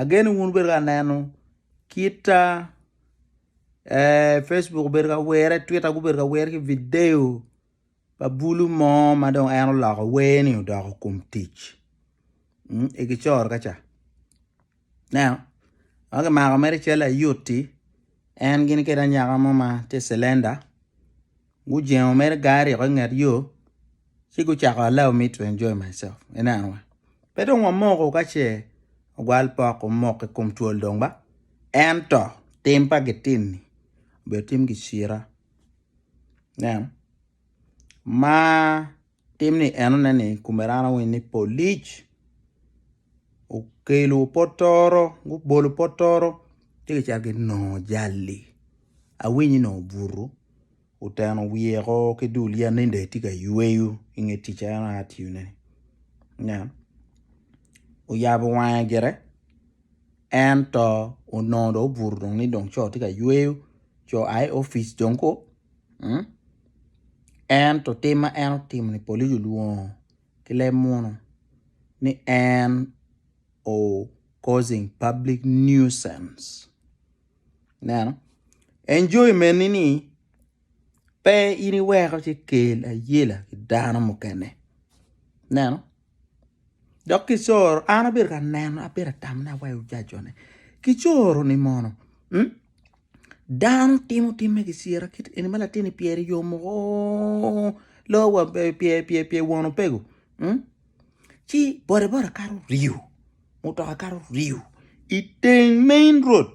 Ageno wun wubedo ka neno kita Facebook obedo ka were, Twitter gubedo ka were ki video pa bulu mo ma dong en oloko werni odoko kom tic i Gicor kaca. Ineno? Dok kimako mere i cal layot-ti, en gini kede anyaka mo ma tye i cilenda. Gujengo mere gangi aryo i nget yo ci gucako allow me to enjoy myself ineno wa pe dong wamoko ka ce ogwal pok omok i kom twol dong ba ento tim pa gitini obedo tim gicira ineno ma. Tim ni enone ni kumerano winy ni polic okelo potoro gubolo potoro ci gicito ginongo jal-li awinyi nongo obuto oteno wiyeo ki dul yat ni dong etye ka yweyo i nge tic ma en aye tiyone ni ineno oyabo wange gire ento onongo dong obuto ni dong co tye ka yweyo co oa i opic dong gu Ento tim ma en otimo-ni polisi olwongo ki leb muno ni en o causing public nuisance. Ineno? Enjoyment-ni ni pe in iweko ci ikel ayela ki dano mukene. Ineno? Dok kicoro, an abedo ka neno, abedo ka tamone awaco jac-cone, kicoro-ni mono? Dano timo tim me kiciro kit eni ma latinni pyer i yo moko loyo pyer won opego ci boda boda kato ryo mutoka kato ryo iteng main road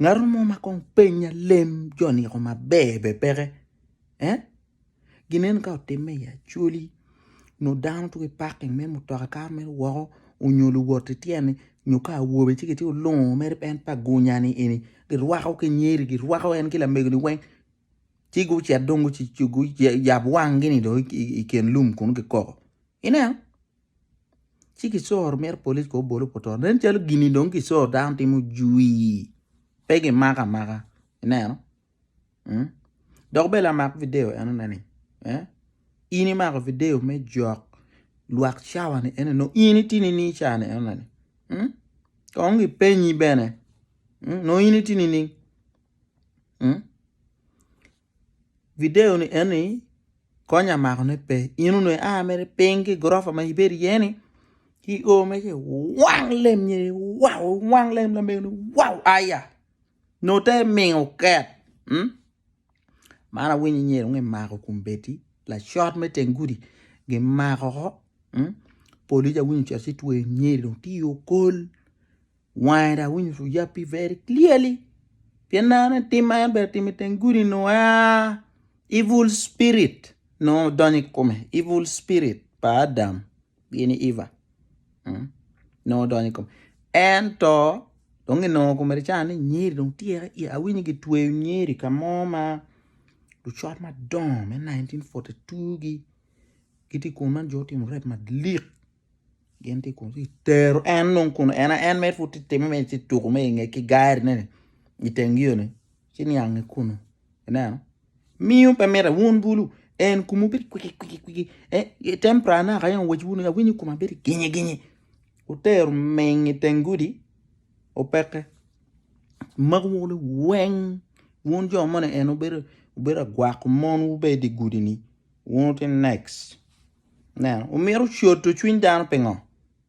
ngato mo ma kong penya lem jo niko maber bene peke. Ginen ka otimme i Acholi nyo dano tuko i paking me mutoka ka ma mito woko nyo luwot ityene nyo ka awobe ci gitye lungo mere en pa gunya-ni eni girwako ki nyeri girwako en ki lamego-ni weng ci gucit dong guyab wang-gini dong i kin lum kunnu gikoko ineno ci kicoro myero polic kong obol obut ot nen calo gin-ni dong kicoro dano timo jwii pe gimako amaka ineno. Dok bene lamak video enoni ni in imako video me jok lwak cawa ni ene nongo in itye nining cawa ni eno ni kong kipenyi bene nongo in itye nining video ni eno ni konya mako ne pe in onongo ia mere piny ki gurofa ma ibedo iye ni ki o mere ci iwang lem ni wow iwang lem lamego ni wow aya. Note mingo ket. Man awinyo i nyer onge mako kum beti lacot me teng gudi gi mako ho police awinyo ocito ci tweyo nyer dong tye i okol wange dong awinyo orumo yape very clearly pien aneno ni tim ma en bene otimo i teng gudi ni aa evil spirit nongo odonyo i kome evil spirit pa Adam. gin i Eva nongo odonyo i kome ento dong ginongo komedi ca ni nyeri dong tyeka iya awinyo ni gitweyo nyeri ka mo ma lucot madongo me nineteen fourty two gi gitye i kome man jo gutimo rep malik gin tye i kome gitero en dong kun en aen mere pud tye ka timo mere tye ka tuko mere i nge ki gari ne ni iteng yo ni. ci niang i kunu ineno miyo pe mite wun bulu en kumu bedo kwiki kwiki kwiki eh, tempera na ka en wec wunu awinyo kuma bedo ginyi ginyi utero meng i teng gudi opeke magu wulu weng wun jo moni en obedo obedo agwako mon wubedi gudi ni wun ti next neno omito coto cwiny dano pingo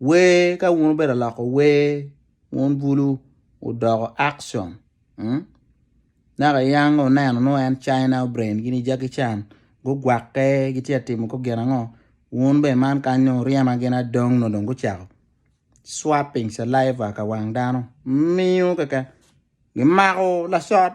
Wer ka wun obedo aloko wer wun bulu odoko action naka iyang oneno nongo en China brain gin i Jackie Chan gugwakke gitye ka timo kong gin ango wun bene man kany nongo oryema gin adong nongo dong gucako swapping saliva ka wang dano miyo keken gimako lacot.